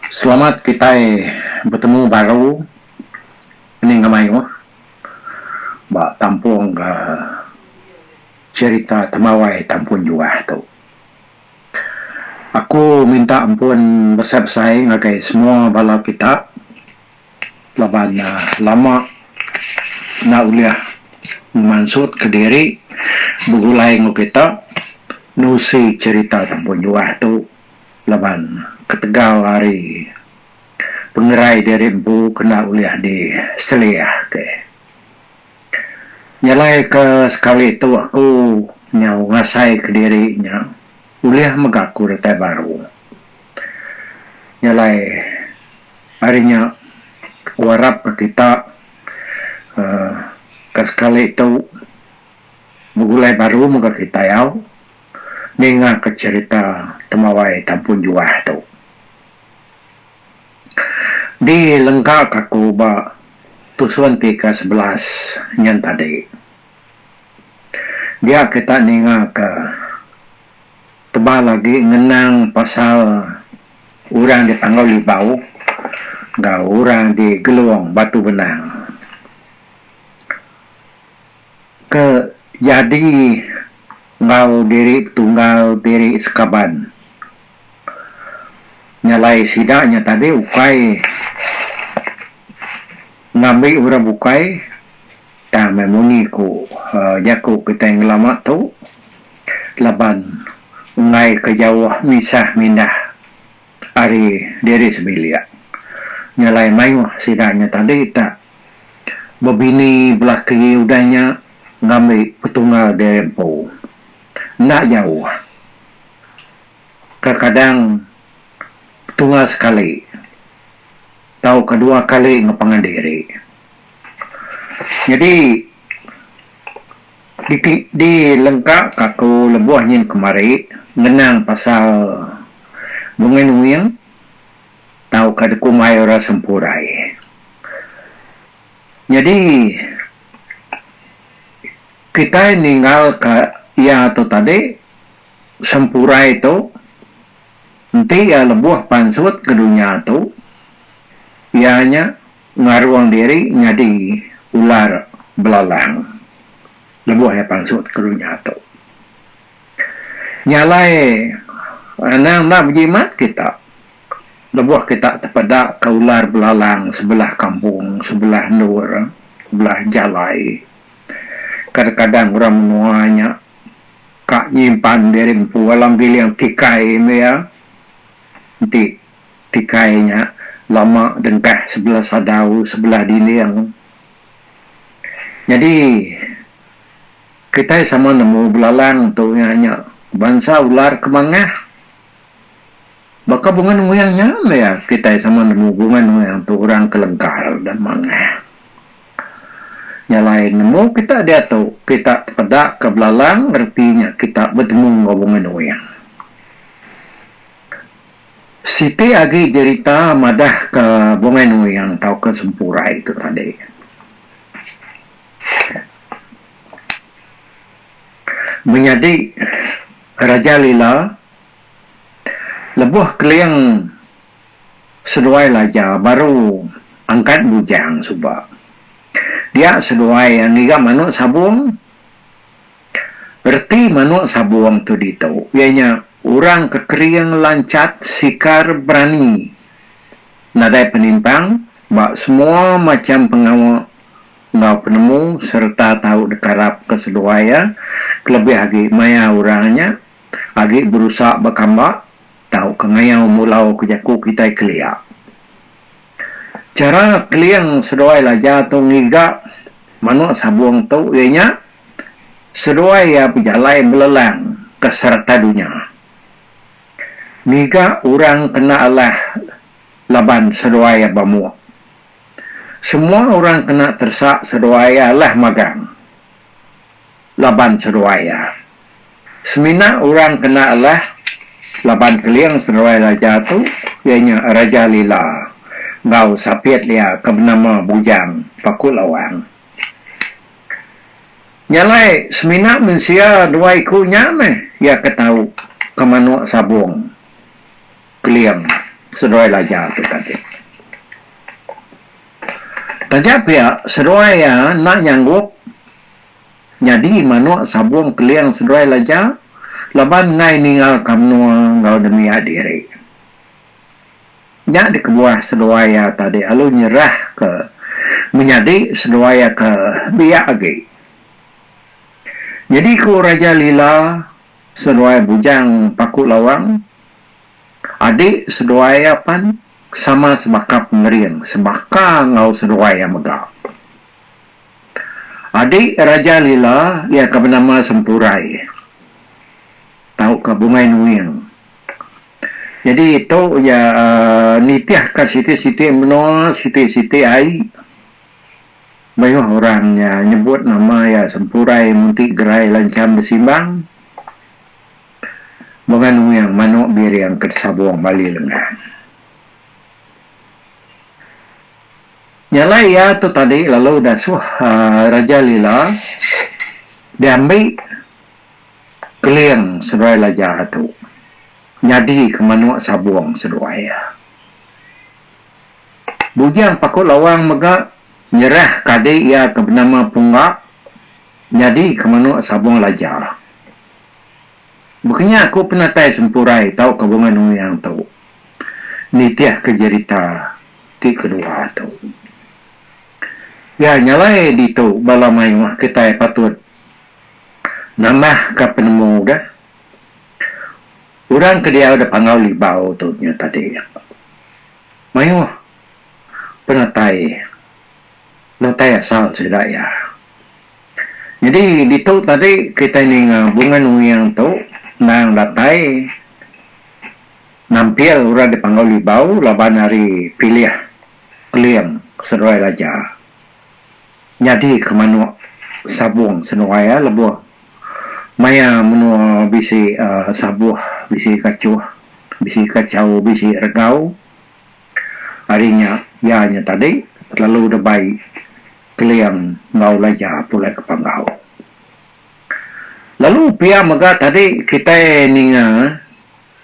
Selamat kitai betemu baru ening ke mayuh ba tampung ga cherita temawai tampun juah tu. Aku minta ampun besai besai ngagai semua bala kita laban lama enda ulih ngemansut ke diri begulai enggau kita nerusi cherita tampun juah tu. Laban ketegal ari pengerai diri empu kena ulih di selih ke. Jalai ke sekali tu aku nyau ngasai ke diri nya ulih mega aku datai baru. Jalai ari nya aku arap ke kita uhh ke sekali tu begulai baru mega kita yau. ningaka cherita temawai Tampun Juah tu. Di lengkaka aku ba tusun ti ke sebelas nyen tadi. Dia kita ningaka tebal agi ngenang pasal urang di Panggau Libau enggau urang di Gelong Batu Benang. Ke jadi enggau diri betunggal diri sekaban. Nyalai sida nya tadi ukai ngambi orang bukai tang meh munyi ku jaku kitai ngelama tu laban enggai ke jauh misah mindah. ari diri sebilik. Nya alai mayuh sida nya tadi tak bebini belaki udah nya ngambi petunggal diri empu. Enda jauh. Kekadang petunggal sekali tauka dua kali ngepangan diri. Nyadi. Siti di lengka ka aku lebuh nyin kemari ngenang pasal Bunga Nuing tauka Dekumai Orang Sempurai. Nyadi kitai ninggal ka iya tu tadi Sempurai tu enti iya lebuh pansut ke dunya tu iya nya Ngarung diri nyadi ular belalang lebuh iya pansut ke dunya tu. Nya alai anang enda bejimat kita lebuh kita tepeda ke ular belalang sebelah kampung, sebelah endur, sebelah jalai. Kadang-kadang orang menua nya ka nyimpan diri empu alam giling kikai meh iya enti Tikai nya lama dengkah sebelah sadau sebelah diling. Nyadi kitai sama nemu belalang tu nya nya bansa ular ke mangah. Baka bunga nuyang nya meh iya kitai sama nemu bunga nuyang tu orang ke lengkal dan mangah. Nya alai nemu kita diatu kita tepeda ka belalang reti nya kita betemu enggau bunga nuyang. Siti agi jerita madahka Bungai Nuyang tauka Sempurai tu tadi. Menyadi Raja Lila lebuh Keling seduai Laja baru angkat bujang suba. Dia seduai ngiga manuk sabung. Reti manuk sabung tu ditu iya nya orang ke kering lanchat sikar berani nadai penimpang ba semua macham pengawa enggau penemu sereta tau dekarap ke seduai iya kelebih agi maya orang nya agi berusa bekamba tauka ngayau mulau ke jaku kitai kelia. Chara keling seduai laja tu ngiga manuk sabung tu iya nya. seduai iya bejalai belelang ke sereta dunya. Ngiga orang kena alah laban seduai iya bamuk. Semua orang kena teresa seduai iya alah magang laban seduai iya. Semina orang kena alah laban keling seduai raja tu iya nya Raja Lila enggau sapit iya ke benama Bujang Paku Lawang. Nya alai semina mensia dua iku nya meh iya ke tau ke manuk sabung keling seduai laja tu tadi. Taja pia seduai iya enda nyanggup nyadi manuk sabung keling seduai laja laban enggai ninggalka menua enggau nembiak diri. Nya dikebuah seduai iya tadi lalu nyerahka menyadi seduai iya ke biak agi. Nyadi ku Raja Lila, seduai Bujang Paku Lawang, adi seduai iya pan sama sebaka pengering sebaka enggau seduai iya mega. Adi Raja Lila iya ke benama Sempurai tauka Bungai Nuing. Jadi tu iya nitihka siti-siti menua, siti-siti ai. Mayuh orang nya nyebut nama iya Sempurai Munti Gerai Lancham Besimbang mega nuing manu biring ke disabung ba ali lengan. Nya alai iya tu tadi lalu dasuh Raja Lila diambi Keling seduai laja tu nyadi ke manuk sabung seduai. Bujang Paku Lawang mega nyerah ke adik iya ke benama Pungga nyadi ke manuk sabung laja. Bekenya aku penatai sempurai tauka bunga nungyang tu nitih ke jerita ti kedua tu. Iya nyalai ditu bala mayuh kitai patut Nambahka penemu de, orang ke diau da Panggau Libau tu nya tadi mayuh penatai natai asal sida iya. Nyadi ditu tadi kitai ninga Bunga Nuing tu endang datai nampil orang di Panggau Libau laban ari pilih Keling seduai Laja. nyadi ke manuk sabung senuai iya lebuh maya menua bisi um sabuh bisi kachuh bisi kachau bisi regau ari nya iya nya tadi lalu debai keling enggau laja pulai ke panggau lalu pia mega tadi kitai ninga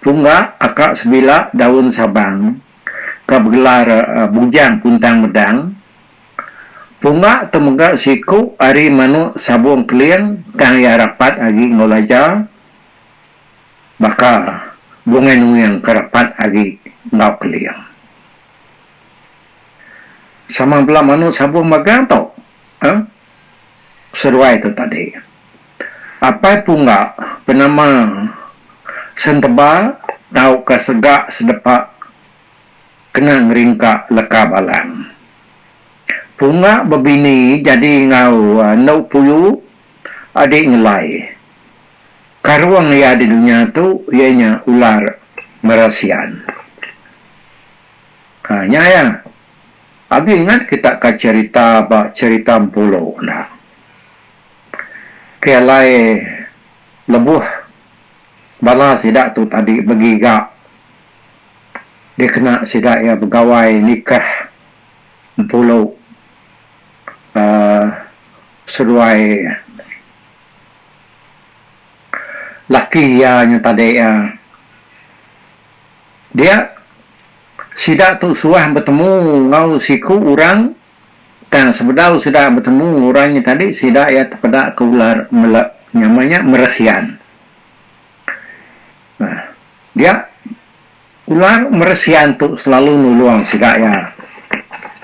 pungga aka sebila daun sabang ka begelar bujang kuntang medang Punga tu mega siku ari manuk sabung keling tang iya rapat agi enggau laja baka bungai nuing ke rapat agi enggau keling. Sama bala manuk sabung magang tu uhh seduai tu tadi. Apai Punga benama Senteba tauka Sega Sedepa. kena ngeringka leka balang. Punga bebini jadi enggau enu puyu adi ngelai. Karung iya di dunya tu iya nya ular merasian. Ha nya iya. Agi ingat kita ka cherita ba cherita Empulu enda. Ke alai lebuh bala sida tu tadi begiga. dikena sida iya begawai nikah empulu aaa seduai laki iya nyau tadi iya. Dia sida tu suah betemu enggau siku orang tang sebedau sida betemu enggau orang nya tadi sida iya tepeda ke ular mele nama nya meresian. Nah. Dia ular meresian tu selalu nulung sida iya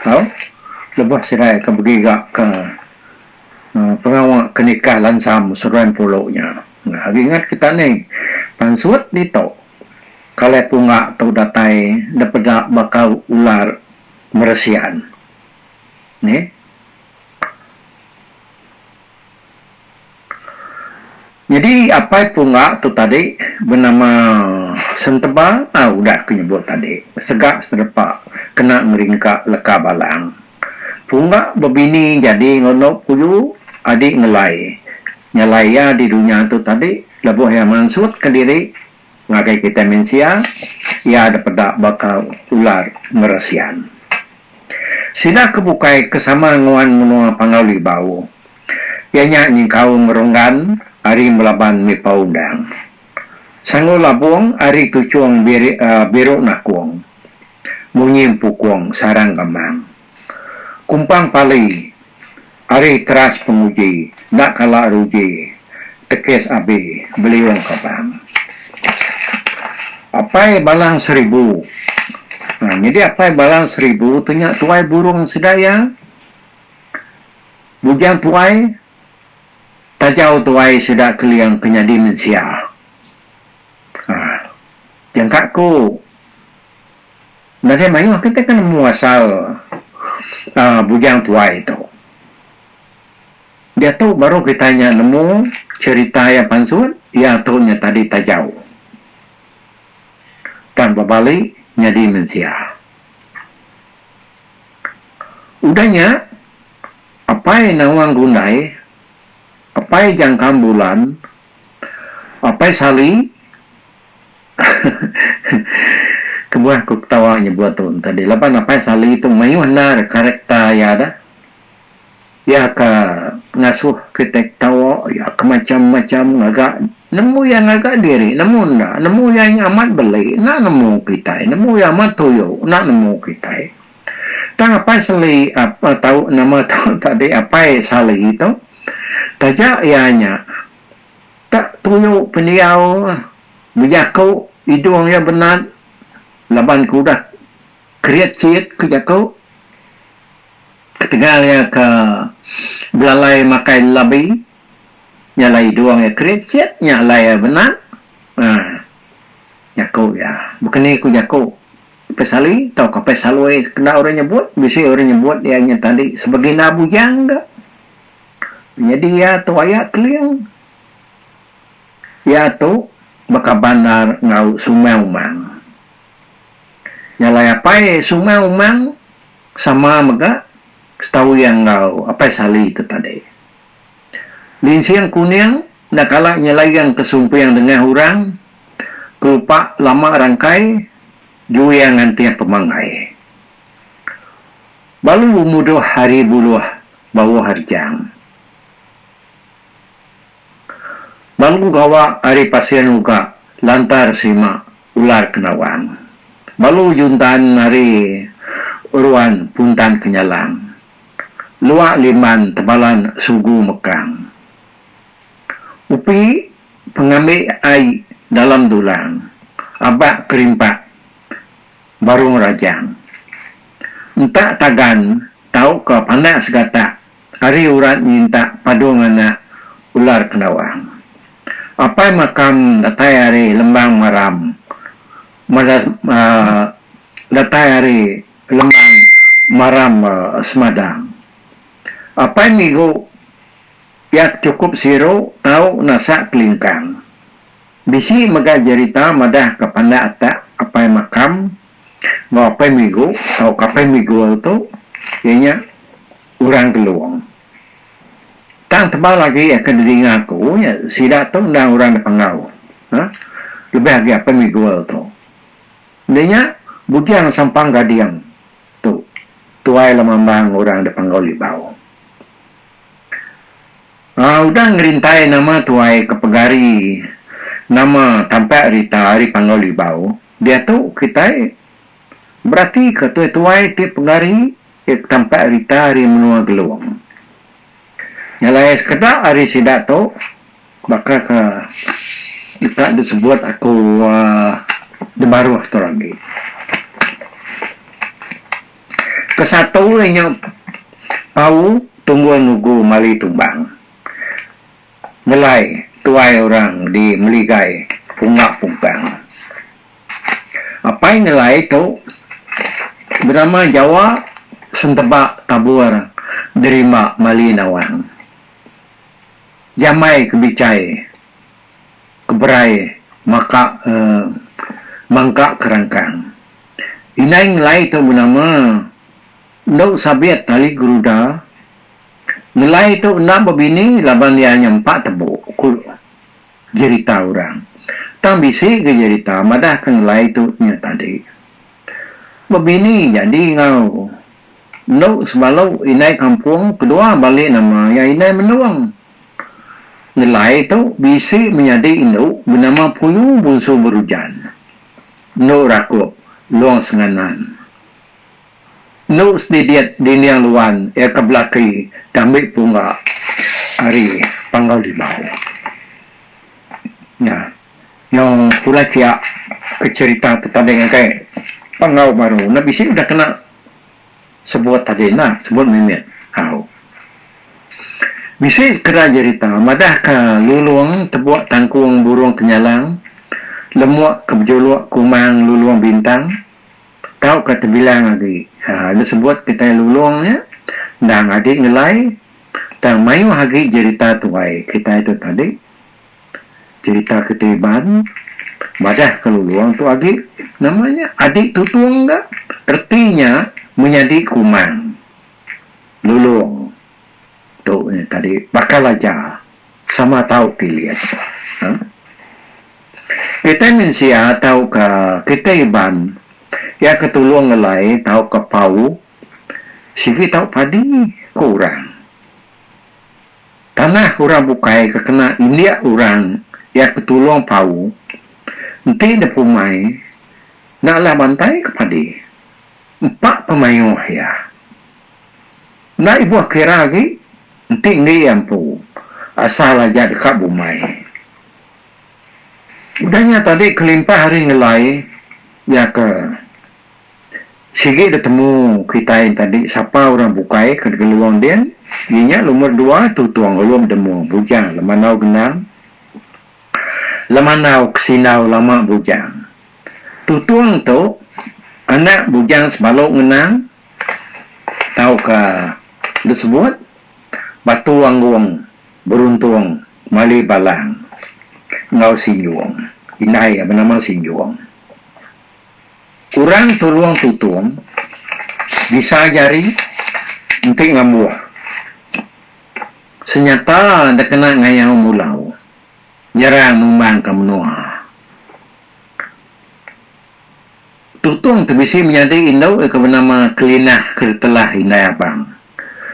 tau lebuh sida iya ke begiga ke pengawa ke nikah lansam seruai empulu nya. Agi ingat kita ni pansut ditu kalai pungga tu datai depeda baka ular meresian. Neh. Nyadi apai punga tu tadi benama Senteba ah udah ku nyebut tadi sega sedepa kena ngeringka leka balang. Punga bebini jadi enggau enok puyu adi ngelai nyalai iya di dunya tu tadi lebuh iya mansut ke diri Ngagai kitai mensia, iya ada peda baka ular meresian. Sida ke bukai ke sama nuan menua Panggau Libau, iya nya nyengkaum ngerunggan ari melaban mipau undang. Sanggul labung ari tuchung biru nakung, munyi empukung sarang gamang. Kumpang pali ari teras penguji enda kala ruji tekis abi beliung kapang. Apai Balang Seribu Nyadi Apai Balang Seribu tu nya tuai burung sida iya. Bujang tuai tajau tuai sida Keling ke nyadi mensia. Jangka ku. Nadai mayuh kitai ke nemu asal uhh bujang tuai tu. Diatu baru kitai nya nemu cherita iya pansut, iya tu nya tadi tajau tang bebali nyadi mensia. Udah nya apai nawang gundai, apai jangkam bulan, apai sali. Kebuah aku ketawa nyebut tu enti adi laban Apai Sali tu mayuh endar karakter iya dah. Iya ke ngasuh kitai ketawa, iya ke macham-macham ngaga nemu iya ngaga diri nemu enda, nemu iya amat beli enda nemu kitai, nemu iya amat tuyo enda nemu kitai. Tang Apai Sali apai tau nama tu tadi Apai Sali tu taja iya nya. Tak perlu pendiau bejaku idung iya benat laban ke udah kerit siit ku jaku ketegal iya ke belalai makai labi nya alai idung iya kerit siit nya alai iya benat aaa jaku iya baka ni ku jaku Apai Sali tauka Apai Salui kena orang nyebut bisi orang nyebut iya nya tadi sebegina bujang ka. Nyadi iya tu aya Keling. Iya tu baka bandar enggau Sungai Umang. Jalai apai Sungai Umang sama mega setahu iya enggau Apai Sali tu tadi. Linsing Kuning enda kala nyelaing ke sumping dengah orang kelupak lama rangkai jui iya ngantih pemanggai. Balu mudoh hari buloh bawoh rejang. Balu gawa ari pasir uga lantar serima ular ke nawang. Balu juntan ari ruan puntan ke nyalang. Lua limban tebalan sugu mekang. Upi pengambi ai dalam dulang. Abak ke rimpak. baru ngerajang. Entak tagan tauka panak segatak ari urat nyintak padung anak ular kendawang. Apai makam datai ari lembang maram datai ari lembang maram semadang. Apai migu yak cukup siru tau nasak kelingkang. Bisi mega jerita madah ka pandak atak apai makam enggau apai migu tauka apai migul tu iya nya Orang Gelong. Tang tebal agi aka didinga aku nya sida tu endang orang Depangau ha lebih agi apai migul tu. Enda nya Bujang Sampang Gading tu tuai lemambang orang Depangau Libau. Aa udah ngerintai nama tuai ke pegari nama tampak rita ari Panggau Libau diatu kitai beratika tuai-tuai ti pegari ke tampak rita ari menua Gelong. Nyalai sekeda ari sida tu baka ke deka disebut aku demaruh tu agi. Ke satu iya nya Pau Tunggul Nugu Mali Tumbang nyelai tuai orang di Meligai Punga Pumpang. Apai nyelai tu benama Jawa Senteba Tabur Derimba Mali Nawang. Jamai ke bichai ke berai maka emm mangka ke rangkang. Indai ngelai tu benama endo sabit tali geruda. Ngelai tu enda bebini laban iya nyempa tebu, ku jerita orang. Tang bisi ga jerita madahka ngelai tu nya tadi. Bebini jadi enggau endo sebalu indai kampung kedua bali nama iya Indai Mendung. Ngelai tu bisi menyadi indu benama Puyung Bunsu Berujan. enu rakup Long Senganan. Enu sedidit dinding luan iya ke belaki diambi pungga ari Panggau Limau. Nya nyau pulai pia ke cherita tetading agi Panggau Baru enda bisi udah kena. Sebut tadi enda, sebut mimit. Au. Bisi sekeda jerita madahka Lulong tebuk tangkung burung kenyalang, lemuk ke bejuluk kumang Lulong Bintang, tauka tebilang agi. Ha, enda sebut kitai Lulong nya. Endang agi ngelai tang mayuh agi jerita tuai kitai tu tadi. Cherita Kitai Iban madah ke Lulong tu agi nama nya Adik Tutung ga reti nya menyadi Kumang Lulong tu nya tadi bakal aja sama tau pilih ha Kitai mensia tau ka Kitai Iban iya ke Tulong Ngelai tau ka Pau sigi tau padi ke orang. Tanah orang bukai ke kena indik orang iya ke tulung pau, enti ne pumai, enda alah bantai ke padi. Empa pemayuh iya. Enda ibuh kira agi enti enggi iya empu, asal aja deka bumai. Udah nya tadi kelimpah hari ngelai iya ke Sigi detemu kitai enta di sapa orang bukai ke degeluong din, iya nya lumur dua Tutong Alum Demo Bujang Lemanau Genang, Lemanau Kesindau Lama Bujang. Tutong tu anak Bujang Sebalu Ngenang tauka disebut Batu Anggung Beruntung Mali Balang enggau Sinjung. Indai iya benama Sinjung. Orang Tulung Tutung bisa jari enti ngambuh senyata da kena ngayau mulau nyerang numbangka menua. Tutung ti bisi menyadi indu iko benama Kelinah Keritelah Indai Abang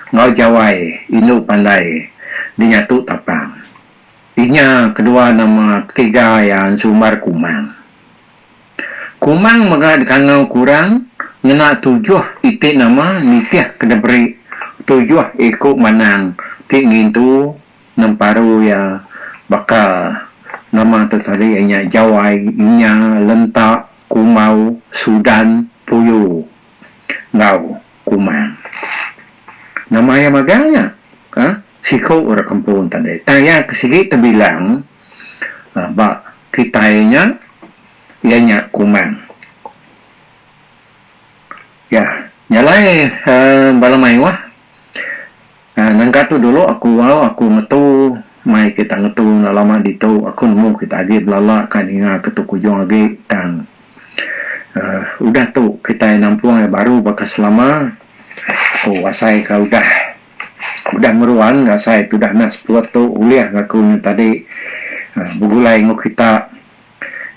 enggau Jawai Indu Pandai Dinyatu Tapang. Inya kedua nama ketiga iya ensumbar Kumang. Kumang mega dikangau kurang ngena tujuh iti nama nitih ke diberi tujuh iku manang ti ngintu nemparu iya baka nama tu tadi iya nya Jawai, Inya, Lenta, Kumbau, Sudan, Puyu enggau Kumang. Nama iya magang nya. Siku orang kampung tadi tang iya ke sigi tebilang ba kitai nya iya nya Kumang. Ya, nya alai uhh bala mayuh uhh nengka tu dulu aku au aku ngetu mai kita ngetu enda lama ditu aku nemu kita agi belala ka ninga ke tu kujung agi tang uhh udah tu kitai nampung iya baru baka selama ku asai ka udah. Udah ngeruan ngasai tudah anak sepuluh tu ulih ngaku nya tadi begulai enggau kita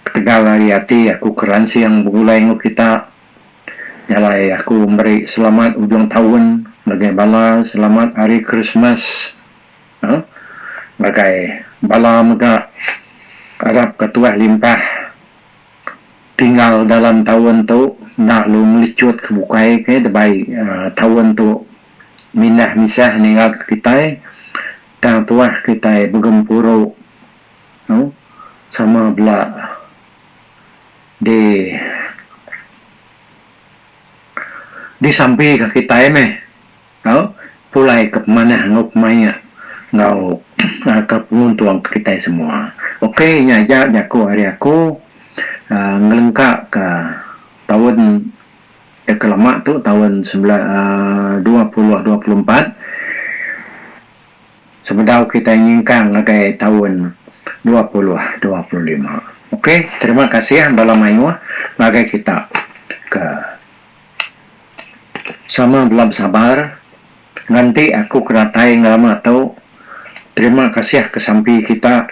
ketegal ari ati aku keransing begulai enggau kita jalai aku meri selamat ujung taun ngagai bala selamat hari Krismas uhh ngagai bala mega arap ka tuah limpah tinggal dalam taun tu enda lu melichut ke bukai ke debai taun tu. mindah misah ninga kitai tang tuah kitai begempuru tu sama bela di disampi ka kitai meh tau pulai ke pemanah enggau pemaik enggau ke penguntung ke kitai semua ok nya aja jaku ari aku ngelengka ka taun Deka lama tu taun dua puluh dua puluh empat sebedau kitai nyingkang ngagai taun dua puluh dua puluh lima. Ok terima kasih bala mayuh ngagai kita ke sama bela besabar nganti aku ke datai ngelama tu. Terima kasih ke sampi kita.